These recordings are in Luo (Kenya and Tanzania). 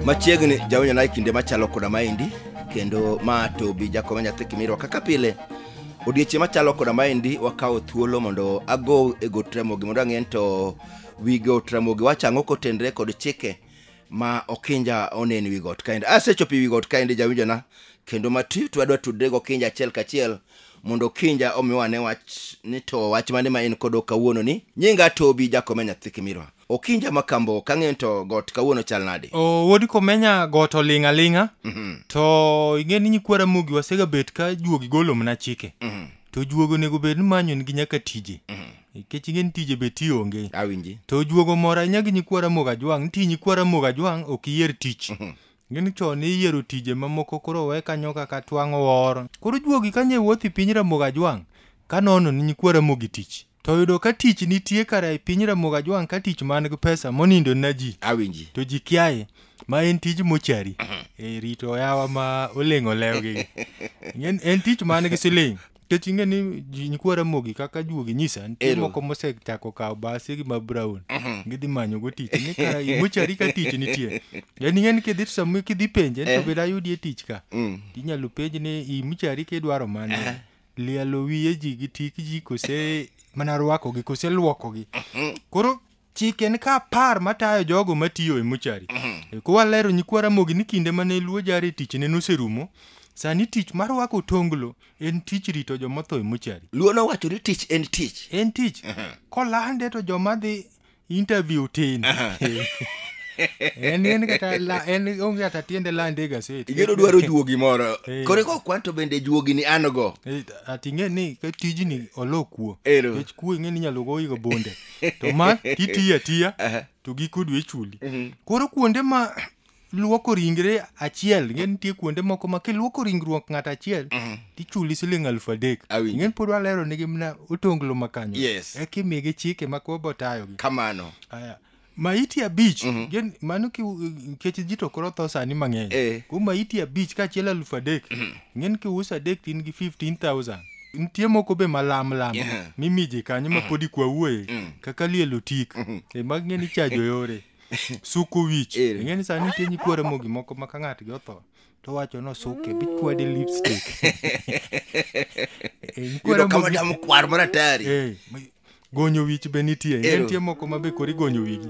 machiegni jawinjo naye kinde machalo koda maendi kendo ma to bi jakoma nyathi kimirwa kaka pile odiechieng' machalo koda maendi wakawo thuolo mondo ago e got ramogi mondo ang'e ni to wi got ramogi wacho ang'o kotenre kod chike ma okinja onen wi got kaendi asechopo wi got kaendi jawinjona kendo mati to adwa tudre gi okinja achiel kachiel mondo okinja omiwa ne wach ni to wach mane ma en kodo kawuono ni nyinga tobi jakome nyathi kimirwa okinja ma kambo kang'eyo to got kawuono chal nade o wodi komenya got oling' aling'a Mhm, to ing'e ni nyikwa ramogi wasegabet ka juogi golo mana chike mhm, to juogi onego bed ni manyo nigi nyaka tije mhm. nikech ing'e ni tije be ti onge awinji to juogo moro ahinya gi nyikwa ramogi ajwang' nitie nyikwa ramogi ajwang' ok iyier tich gini chon iyiero tije mamoko koro we kanyo kaka twang'o wor koro juogi kanye wuoth i piny ramogi ajwang' ka nono ni nyikwa ramogi tich to oyudo ka tich nitie kara e piny ramogi ajwang' ka tich man gi pesa monindo na ji awinji to ji kiaye ma en tij mochari e rito oyawa ma oleng' olewgi en, en tich man gi siling Nikech ing'e ni ji- nyikwa Ramogi kaka juogi nyisa nitie Ero. moko mosechako kawo basi gi ma brown gidhi manyogo tich ni ka mochari ka tich nitie en ing'e ni kidhi to sama kidhi penje to bed ayudie tich ka Mm. inyalo penj ni i mochari kidwaro mane lielo wiye ji gi tik ji kose mana rwakogi kose lwokogi koro chik en ka apar matayo jogo matiyo e mochari E, kwalero nyikwa ramogi ni kinde mane luo jare tichne noserumo sani tich mar rwako tonglo en tich rito joma otho e mochari luo nowacho ni tich en tich en tich kolande to joma dhi interview tin en en kata la- en onge kata tiende lande e gaset igeno dwaro juogi moro Eh. koro eko kwan to bende juogi ni an go Eh, ati ing'e ni ka tijni olo kuo Ero. Nikech kuo ing'e ni inyalo goyigo bonde to ma kitiyo atiya Aha. to giko dwe chuli Mhm. koro kuonde ma luoko ringre achiel ing'e nitie kuonde moko ma kiluoko ringruok ng'ato achiel Mhm. tichuli siling alufu adek Awinjo. ing'e pod walero nigi mna otonglo makanyo Yes. eka imigi chike ma koro botayogi kamano Aya. maiti abich Mhm. gen- mano ki- nikech ji to koro tho sani mang'eny Eh. ko maiti abich kaachiel alufu adek ing'e ni kiuso adek to in gi 15000 nitie moko be malam lam Yeah. mimiji kanyo ma podi kwa wuoye Mm. kaka lielo tik e mag ng'e ni chajo yore suko wich Ere. ing'e ni sani nitie nyikwere mogi moko ma ka ng'atgi otho to wacho no suke bichwade lipstick Eh, nyikwere yudo kama mogi- dam kwar maratari Eh, ma- gonyo wich be nitie Ero. ne nitie moko ma be koro igonyo wigi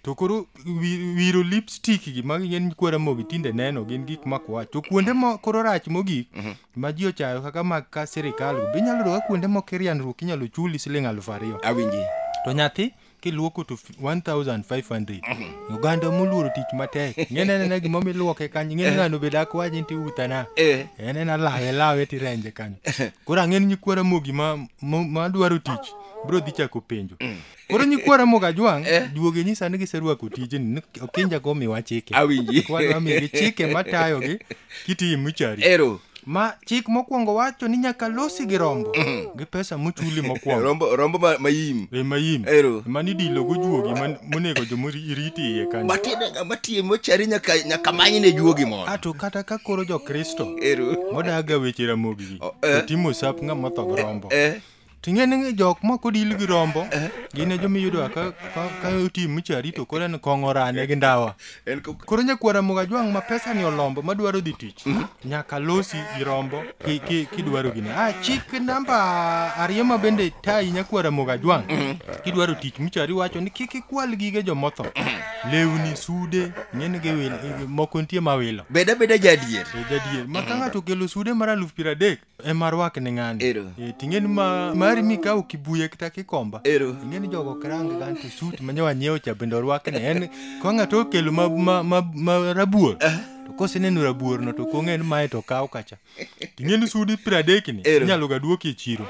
to koro wi- wiro lipstick gi ma gin kwara mogi tinde neno gin gik makwach to kuonde mo koro rach mogik ma ji ochayo kaka mag ka sirikal go be inyalo yudo ka kuonde moko irianruok inyalo chuli siling aluf ariyo awinji to nyathi kiluoko to 1500 oganda moluoro tich matek ng'ene nena gima miluoke kanyo ng'ene ng'ano be dak waji nti utana Eh. en en alawe lawe tirenje kanyo koro ang'en nyikwara mogi ma ma- madwaro tich bro dhi chako penjo koro nyikwara moga jwang' duoge nyisa ni giserwako tijni ni okinja go miwa chike Awinji. Kwadwa migi chike matayogi kitiyi muchari ero ma chik mokwongo wacho ni nyaka losi gi rombo gi pesa muchuli mokwongo rombo rombo ma- mayim e mayim Ero. mani dilo gojuogi man- monego jomoriti iye kanyo matiye matiye mochari nyaka nyaka manyne juogi mondo ato kata ka koro jokristo ero modaga weche ramogi O, eh. to timo sap ng'ama otho gi rombo eh Ting'e ni jok ma kodil gi rombo eh? gin e joma iyudo ka ka otim miche arito koro en kong'o rane gi ndawa. Koro nyakwara moga jwang' ma pesa ni olombo ma dwaro dhi tich mhm. nyaka losi gi rombo ki ki kidwaro gini. Ah chik namba ariyo ma bende tayi nyakwara moga jwang' mhm. kidwaro tich miche ari wacho ni kik ikwal gige jomotho. Mhm. Lewni sude ng'en gi wil moko nitie ma wilo. Beda beda jadier. Jadier. Ma ka ng'ato kelo sude mar aluf piero adek ema rwakne ng'ani Ero. Eh, ting'eni ma mari mikawo kibuye kata kikomba Ero. ing'eni jogo ok range gan to suit ma nyawa nyiewo cha bende orwakne en ka ng'ato okelo ma, ma, ma, ma rabuor to koseneno rabuorno to kong'e ni mae to kaw kacha ting'eni sudi piero adekni Ero. inyalo ga duoki e chiro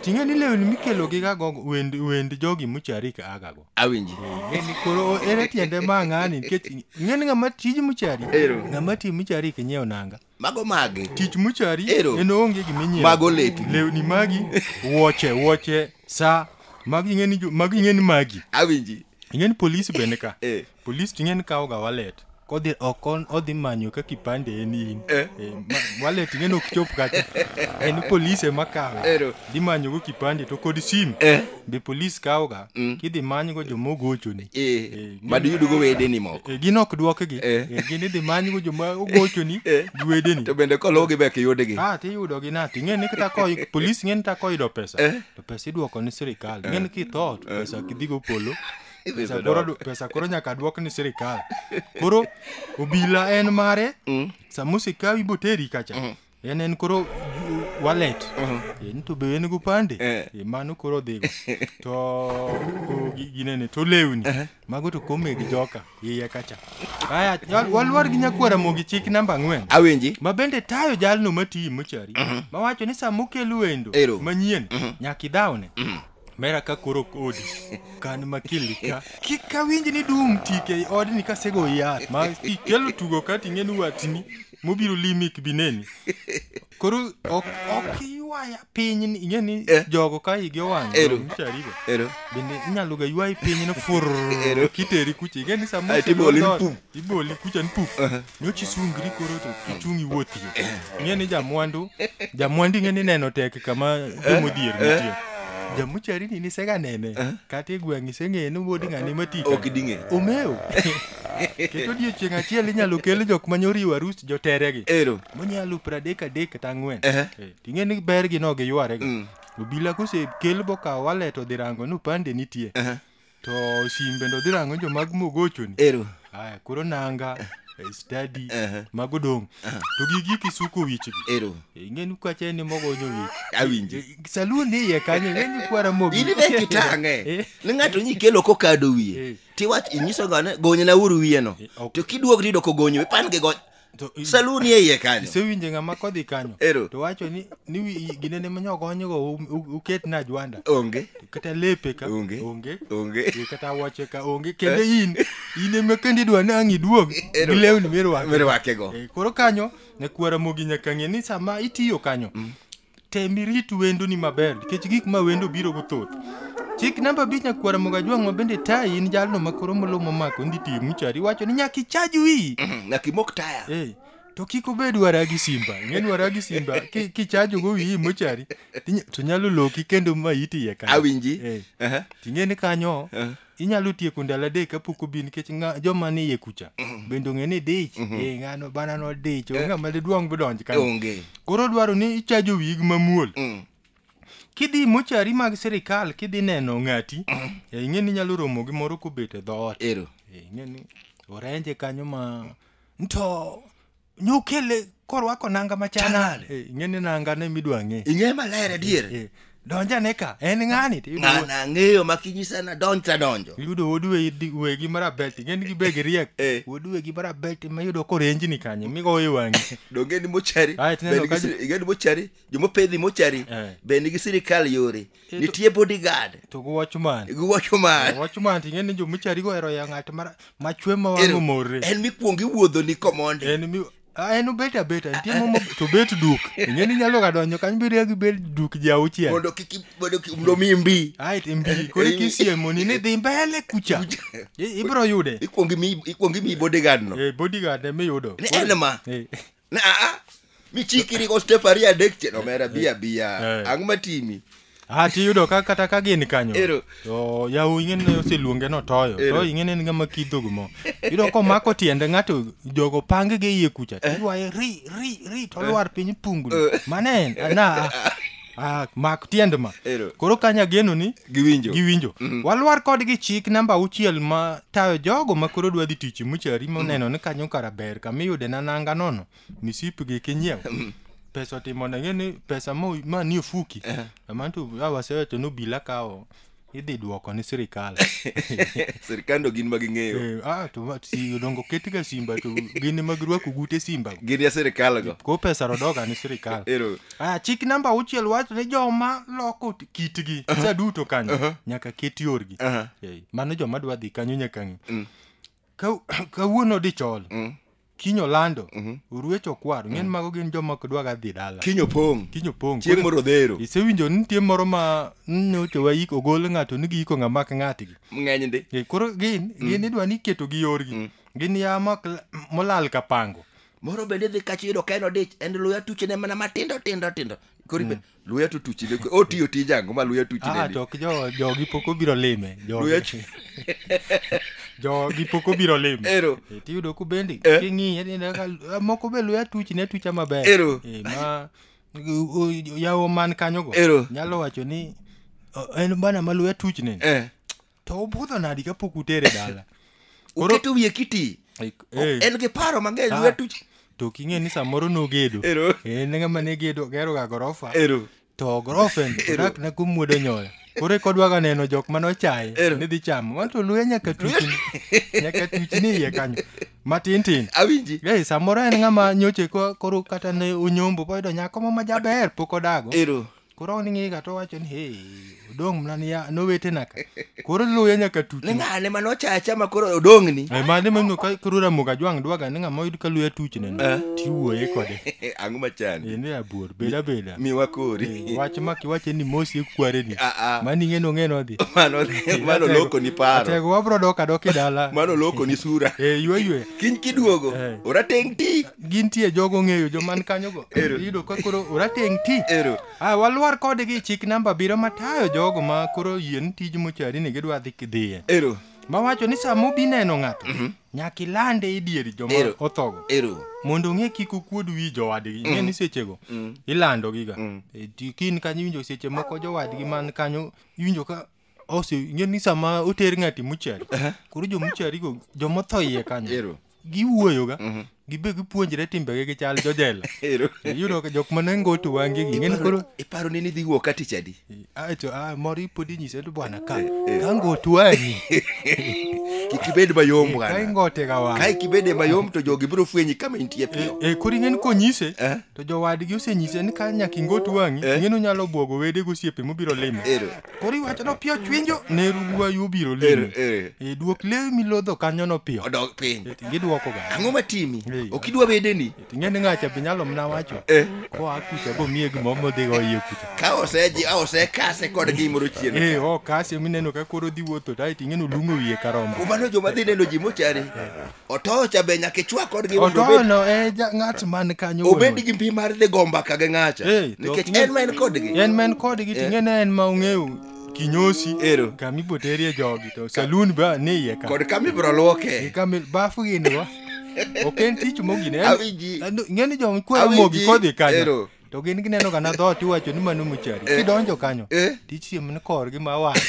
ting'eni lewni mikelo gi gago wend, wend jogi muchari ka agago Awinji. Ng'eni koro ere tiende ma ng'ani nikech ng'eni ng'ama tij muchari Ero. ng'ama ti muchari kinyieo nanga Mago magi. Tich muchari Ero. en onge gima inyiewo. Mago lepi. Lewni magi, wuoche, wuoche, sa. Magi ing'eni jo- magi ing'eni magi. Awinji. Ing'eni polisi bende ka. Eh. Polisi to ing'eni kawoga wallet. Kodhi ok on- odhi manyo ka kipande en in. Eh. Eh, ma- wallet ing'eni ok chop kacha. En polisi ema kawe. Ero. Dhi manyogo kipande to kod sim. Eh. Be polisi kawoga. Mm. Kidhi manygo joma ogochoni. Eh. Eh, ma diyudgo wedeni moko Eh, gin ok dwokgi Eh. Eh, gin idhi manygo joma ogochoni Eh. gi wedeni to bende kologi be kiyudgi Ah, tiyudogi na ting'e ni kata ko polis ng'e ni ta koyudo pesa Eh. to pesa idwoko ni sirikal ng'e ni kitho to pesa kidhigo polo Idhi pesa yudo koro, du- pesa koro nyaka dwok ni sirikal koro obila en mare Mm. sama osekawi boteri kacha en en koro ju- wallet Eh, ni to be en go pande Eh. Eh, mano koro dhigo to o, gi- ginene to lewni mago to kome gi joka iye kacha aya wal- walwar gi nyakwara mogi chik namba ang'wen awinji ma bende tayo jalno matiyi mochari mawacho ni sama okel wendo Ero. manyien nyaka idhawne mera ka koro kodi kan makili ka kik awinj ni dum tike i odni kasego yath ma ikelo tugo ka ting'eni watni mobiro limi kibineni koro ok ok iywaya piny ni- ing'e ni Eh. jogo ka igi owang' Ero. charigo ero bende inyalo ga ywayi piny no fur Ero. kiteri kucha ing'e ni sama Ae, tiboli osegol dhoot, mpu. iboli kucha ni pup nyochi sungri koro to kichung' iwuothie ing'e ni jamwandu jamwandu ing'e ni neno tek kama jomodhier nitie jamuchari ni nisega nene kata e gweng' iseng'eye ni wuod ng'ani matika ok ding'e omeo kendo odiechieng' achiel inyalo kel jok ma nyoriwo arus joteregi ero monyalo pradek adek kata ang'wen Ehe. Eh, ting'e ni bergi no giywarega Mm. obila kosekel bokawo walet odhi rango ni upande nitie Ehe. To simbe ndo dhi rango jo mag mogochoni. Ero. Aya, koro nanga, eh, study, Aha. mago dong'. To gigi kisuko wichgi. Ero. Ing'eni kwache ni mogonyo wich. Awinji. Eh, Salun ni iye kanyo, ing'eni kwara mogo. in be kitang'e Eh. ni ng'ato nyi kelo kokado wiye Eh. tiwach inyiso gane gonyna uru wiyeno ok. to kiduog riyudo kogonyo pan gi gony To i- salu ni e iye kanyo isewinje ng'ama kodhi kanyo Ero. to wacho ni ni wi- gine ne manyo konyogo u- u- uket na jwanda onge kata lepe ka Onge. onge onge Ee, kata wache ka onge kendo in in ema kendo idwa ni ang' iduog Ero. gi lewni mirwako mirwakego Eh, koro kanyo nyakwara mogi nyaka ng'e ni sama itiyo kanyo tem irit wendoni maber nikech gik ma wendo biro go thoth chik namba abich nyakwara mogajwang' ma bende tayi in jalno ma koro molo momako ndi tiyo muchari iwacho ni nyaka ichaj wiyi nyaka imok taya Eh, to kik obed wara gi simba ing'e ni wara gi simba ki- kichajogo wiyi mochari tinya- to nyalo loki kendo ma iti iye kanyo. Awinji. Eh, Aha. ting'e ni kanyo Eh. inyalo tieko ndalo adek kapok obi nikech nga- joma ni iye kucha bende ong'e ni dich eh, ng'ano bana no dich onge ng'ama didwong bidonj kanyo onge koro dwaro ni ichajo wig mamuol Mm. kidhi mochari mag sirikal kidhi neno ng'ati eh, ing'e ni inyalo romo gi moro kobet e dhoot ero Eh, ing'e ni orenje kanyo ma nto nokele korwako nanga machal Chal nade? nade Eh, ing'eni nanga ne midwa ng'e ing'e maler adier Eh, donjane ka en ng'ani to iyudo- ng'ana ang'eyo ma kinyisa na donj tadonjo iyudo wuod we- di- wegi marabet ing'eni gibeg riek Eh. wuod wegi marabet ma iyudo korenjni kanyo migowo e wang'i donge ni mochari Ah, tineno Be nigi ka- siri- ing'e ni mochari jomopedhi mochari Eh. be nigi sirikal yore nitie bodyguard to gi watchman gi watchman watchman ting'e ni jomichari go ero ya ng'at machwe ma wang' omorre en mikwongo iwuodho ni komond en mi Ah, en obet abeta nitie momo to bet duk ing'e ni nyalo ga donjo kanyo bedo gi bet duk ji auchiel mondo kik mondo kik mondo mi mbi ai ti mbi kore kisiemo ni ni dhi mbele kucha ibro yude ikwongi mi ikwongi mi bodyguard no eh bodyguard e mi yudo ne en ma eh. Na, ah, michikiri ko step ariyo adek chien omera bi abiya Eh. ang' matimi Ah, tiyudo ka kata ka gin kanyo Ero. to yawu ing'eni ne oseluonge notoyo Ero. to ing'eni en ng'ama kidhogo mo iyudo komako tiende ng'ato jogo pange gi iye kucha to ywaye ri ri ri to lwar piny pungni mane en na Ah, mak tiend ma Ero. koro kanya geno ni Giwinjo. giwinjo walwar kodgi chik namba auchiel ma tayo jogo ma koro dwa dhi tich muchari moneno ni kanyo kara ber kama iyude na nanga nono misipgi kinyiew pesa otimo nege ni pesa mo- ma ni ofuki amantu awasewacho ni obila kawo idhi duoko ni sirikal sirikando gin ma ging'eyo Eh, ah, to ma- si dongo ketga simba to gin ema girwako gute simba gin ya sirikal go ko pesa rodoga ni sirikal ero Ah, chik namba auchiel wacho ni joma loko t- kitgi sa duto kanyo nyaka ket yorgi Aha. Eh, mano joma dwa dhi kanyo nyaka ng'i Ka- kawuono dichol Mm. kinyo lando oruech okwaro ng'en mago gin joma ok dwaga dhi dala Kinyo pong'. kinyo pong' Chieng' moro odhero. isewinjo ni nitie moro ma nyocho waik ogol ng'ato ni giiko ng'ama ok ng'atgi Ng'eny ndi. Eh, koro gin gin idwa ni iketo gi yorgi gin ya mak- molal ka pango Moro bende dhi kacho yudo ka en odich. En luya tuchene mana matindo tindo tindo. Koro ibe- luya to tuchi ne otiyo tij ango ma luya tuchi ne ah, to ok jo jogi pok obiro lime luya jogi pok obiro lime ero e, tiyudo ku bendi eh? king'iye ninde ka ah, moko be luya tuchi ne tucha maber ero e, ma yawo man kanyo go ero nyalo wacho ni en bana ma luya tuchi ne eh. to obudho nadi kapok utere dala Koro- uketo wiye kiti Like, O- eh, en gi paro mang'eny Ah. lwetu to ok ing'e ni samoro nogedo Ero. en ng'ama ne gedo geroga gorofa ero to gorofen odak ne kumwodo nyoyo koro eka odwaga neno jok mane ochaye Ero. ni dhi chamo wanto luya nyaka tuchni nyaka tuchni iye kanyo matin tin awinji Ei, samoro en ng'ama nyoche ko- koro kata ne onyombo boyudo nyako mo majaber pok odago ero koro ok ni ng'eye ga to wacho ni hey odong' mna ni ya- nowetena ka koro luya nyaka tuti ni ng'ane ma nochacha ma koro odong'ni Eh, mane mano ka koro ramoga jwang' dwaga ni ng'ama oyud ka luya tuchne no tiwuoye kode ang'o machandi en e abuor beda beda miwa kori wach ma kiwache ni mosi ekware ni Ah, ah. mani ng'eno ng'eno dhi mano mano loko ni paro atego wabro dok adok e dala mano loko ni sura Eh, ywe ywe kiny kiduogo Eh. orateng' ti gintie jogo ng'eyo joman kanyogo Ero. iyudo ka koro orateng' ti Ero. Ah, walwar kodgi chik namba abiriyo matayo jogo ma koro yien tij mochari ni gidwa dhi kidhiye Ero. mawacho ni sama obi neno ng'ato nyaka ilande e dier joma Ero. othogo Ero. mondo ong'e kik okuod wi jowadgi ing'e ni sechego ilandogiga E, ti- kin kanyo iwinjo seche moko jowadgi man kanyo iwinjo ka ose ing'e ni sama oter ng'ati muchari koro jomucharigo jomotho iye kanyo Ero. giwuoyoga gibe gipuonjre timbege gi chal jojela Ero. iyudo ka jok mane ngoto wangegi ing'e ni koro iparo ni nidhi wuok ka tich adi acho ah, moro ipodi nyise to bwana ka ka ngoto wanyi kik ibed mayom ka bwana ingote ga wang kae kibede mayom to jogi biro fwenyi kama intie piyo e koro ing'e ni konyise Eh. to jowadgi osenyise ni ka nyaka ingot wang'i Eh. ing'e ni onyalo bwogo wede gosiepe mobiro limo Ero. Koro iwacho no piyo chwinjo ne ruwayu obiro Ere, limi. ere. E duok lewi milodho kanyo no piyo. Odog piny. E, Gidwoko ga. Ang'o matimi? Ee. Ok idwa bedeni? Ting'e ni ng'acha be nyalo mna wacho. Eh. Koa kucha go miye gimo modhi go iye kucha. Ka oseji, a osekase kod gimoro chien. E o kasi mineno ka koro dhi wuotho tai ting'e no lungo wiye karombo. Kumano joma dhi neno ji mochari. otoyo cha be nyaka ichwa kodgi mondo obed- otoyono e ja- ng'at man kanyo wuon obed ot. gi mbi mar dhi go mbaka gi ng'acha Eh, to nikech ok en ma en kodgi en man kodgi to ing'e ni en ma ong'eyo kinyosi Ero. kama iboterie jogi to salun ba ni iye ka kod kama ibiro lwoke kama bafu gin go ok en tich mogine En- Awinji. en- ing'e ni joma kwero Awinji. mogi kodhi kanyo Ero. to gin gineno kana dhoot iwacho ni mano mochari Eh. kidonjo kanyo Eh. tich siem ni korgi ma wang'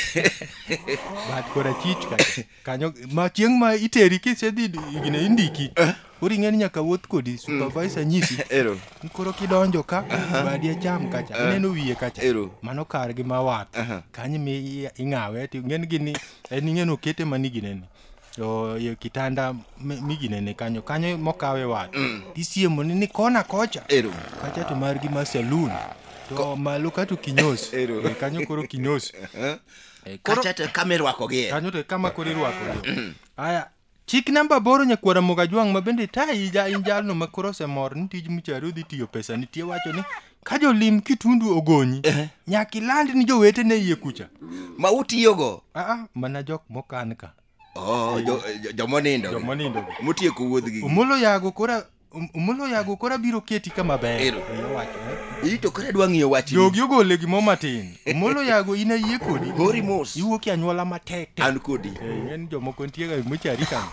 bat kora chich ka kanyo ma chieng' ma iteri kisedhi gine indiki koro ing'eni nyaka wuoth kodi supervisor nyisi Ero. ni koro kidonjo ka badi acham kacha ineno wiye kacha Ero. mano kar gi ma wath Aha. kanyo mi i- ing'awe ti ng'en gini en ing'en okete mani ginene to e kitanda mi- miginene kanyo kanyo mokawe wath tisiemo ni ni kona kocha Ero. kacha to margi ma saloon to malo kato kinyos Ero. Eh, kanyo koro kinyos Eh? Eh, koro- kacha to kama irwakogie kanyo to kama koro irwakogi aya chik namba boro nyakwara mogajwang' ma bende tayi ja in jalno ma koro osemor ni tij michari odhi tiyo pesa nitie wacho ni ka jolim kitundu ogonyi nyaka iland ni jowetene iye kucha ma utiyogo aa mana jok mokan ka Oh, jo- jo- jomonindo jomonindo motieko wuodhgi omolo yago kora Om- omolo yago kora biro keti kama ber Ero. Oya wacho, eh. ito kore dwa ng'iyo wachni jogi ogole gimo matin omolo yago in ayie kodi hori mos iwuok e anyuola matek tek an kodi Eh, en jomoko ntiega mochari kan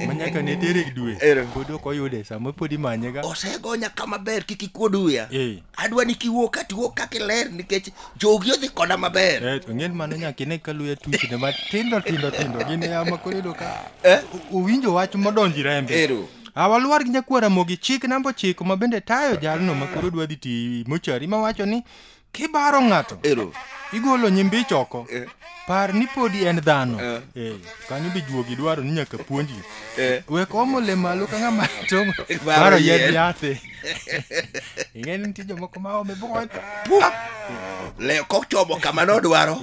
manyaka ne tere gi dwe Ero. pod ok oyude sama pod imanyega osegonya kama ber kik ikuod uya Eh. adwa ni kiwuok katiwuok kaka iler nikech jogi odhi koda maber Eh, to ng'en mano nyaka ine ka luya tuchne matindo tindo tindo gin e ama koro iyudo ka Eh? u- uwinjo wach modonji rembe ero a walwar gi nyakwara mogi chik namba ochiko ma bende tayo jalno ma koro dwa dhi ti mochari ma wacho ni kibaro ng'ato ero igolo nyimbi choko Eh. par ni podi en dhano Eh. Eh, kanyo be juogi dwaro ni nyaka puonji Eh. wek omo le malo ka ng'ama to Baro baro yien. yedh yathe ing'e ni nitie jomoko ma ome bukon le kochomo kama nodwaro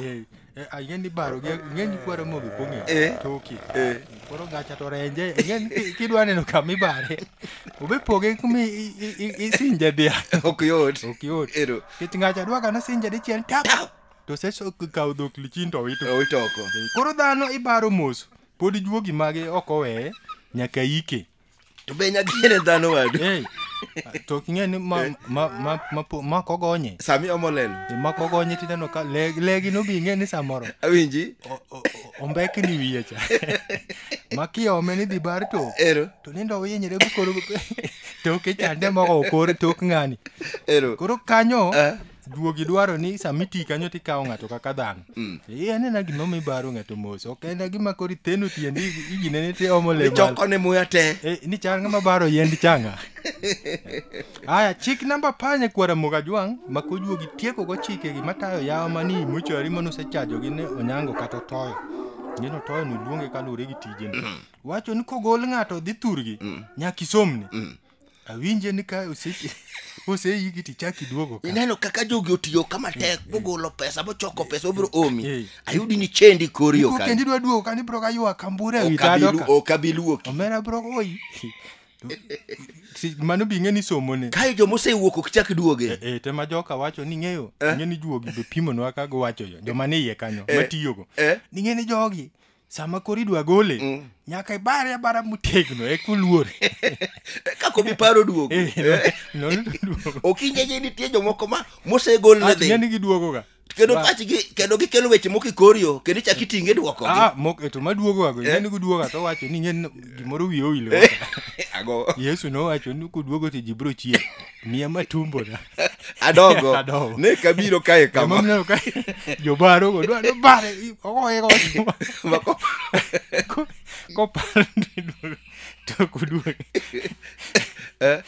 ing'e ni baro gi- ing'e ni kwaro mogi kong'e Eh. toki Eh. koro gacha to renje ing'e ni ki- kidwa neno kama ibare obe poge kuma i- i- i- isinje dhiang' ok yot ok yot Ero. kech ngacha dwaka nosinje dichiel tap Tap. to sech okawo dhok lichin to owito owito oko koro dhano ibaro mos pod juogi mage ok oweye nyaka ike to be nyakene dhano wadu hey, to ok ing'e ni ma, ma, ma, ma, ma, ma kogonye sami omolelo E, ma kogonye tineno ka le- legi no bi ing'e ni samoro awinji o- o- o- ombekni wiye cha ma kiome ni dhi bar to ero to nindo winyre bukoro toke chande moko okore tok ng'ani ero koro kanyo Eh. juogi dwaro ni sama iti kanyo to ikawo ng'ato kaka dhano mm. eh, anena gima mibaro ng'ato mos ok en gima koro itheno tiendi iginene ti omo lechokone muya te eh, ni chal ng'ama baro yend changa aya chik namba panye kwara moga jwang' ma kojuogi tiekogo chikegi matayo yawa mani mochari mane osechajogi ne onyango kata otoyo neno toyo noluonge kaluwore gi tijeni mm. wacho ni kogol ng'ato dhi thurgi mm. nyaka isomni awinje ni ka ose- oseiki tichak iduogo ka ineno kaka jogi otiyo ka matek mogolo pesa mochoko pesa obiro omi Eh. ayudi ni chendi kori Iko ok kendi dwa duogo ka ni bro ka ywa kambure ewi tado abilu- ka ok abiluoki omera bro oyi Si- mano bi ng'e ni somone kae joma osewuok ok chak duoge e tema joka wacho ni ng'eyo ng'e ni juogi be pimonwa kago wacho yo joma ni iye kanyo Eh. matiyogo Eh. ni ng'e ni jogi sama koro idwa gole mm. nyaka ibare abara motegno e kuluor kaka obi paro duogo eh, eh. okinye gi nitie jomoko ma mosegol ne dhi ng'eni giduogoga kendo pachgi kendo gikelo weche moko ikorio kendo ichak itinge duoko ah mok to maduogo ago eh? ng'eni guduoga to wacho ni ng'en gimoro wiye owilo ago yesu nowacho ni kuduogo to ji biro chier miya matumbona adogo Adogo. ne kabiro kae kama Emomiyo ka jobarogo dwa ni bare i- ogoye gochuma Mako- Ko- kopar ni duogo to koduogo Eh,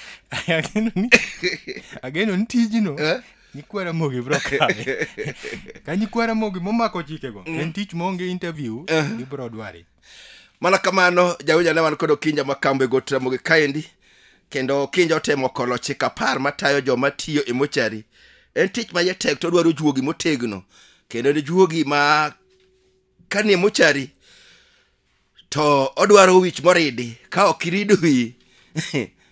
ageno ni ageno ni tijno Eh? nyikwa ramogi bro kawe ka nyikwa ramogi momako chikego en tich maonge interview ibro dware mana kamano jawinja ne wan kod okinja ma kambo e got ramogi kaendi kendo okinja otemo kolo chik apar matayo joma tiyo e mochari en tich ma jatek to odwaro juogi motegno kendo en juogi ma kanie mochari to odwaro wich moridi ka ok irido wiyi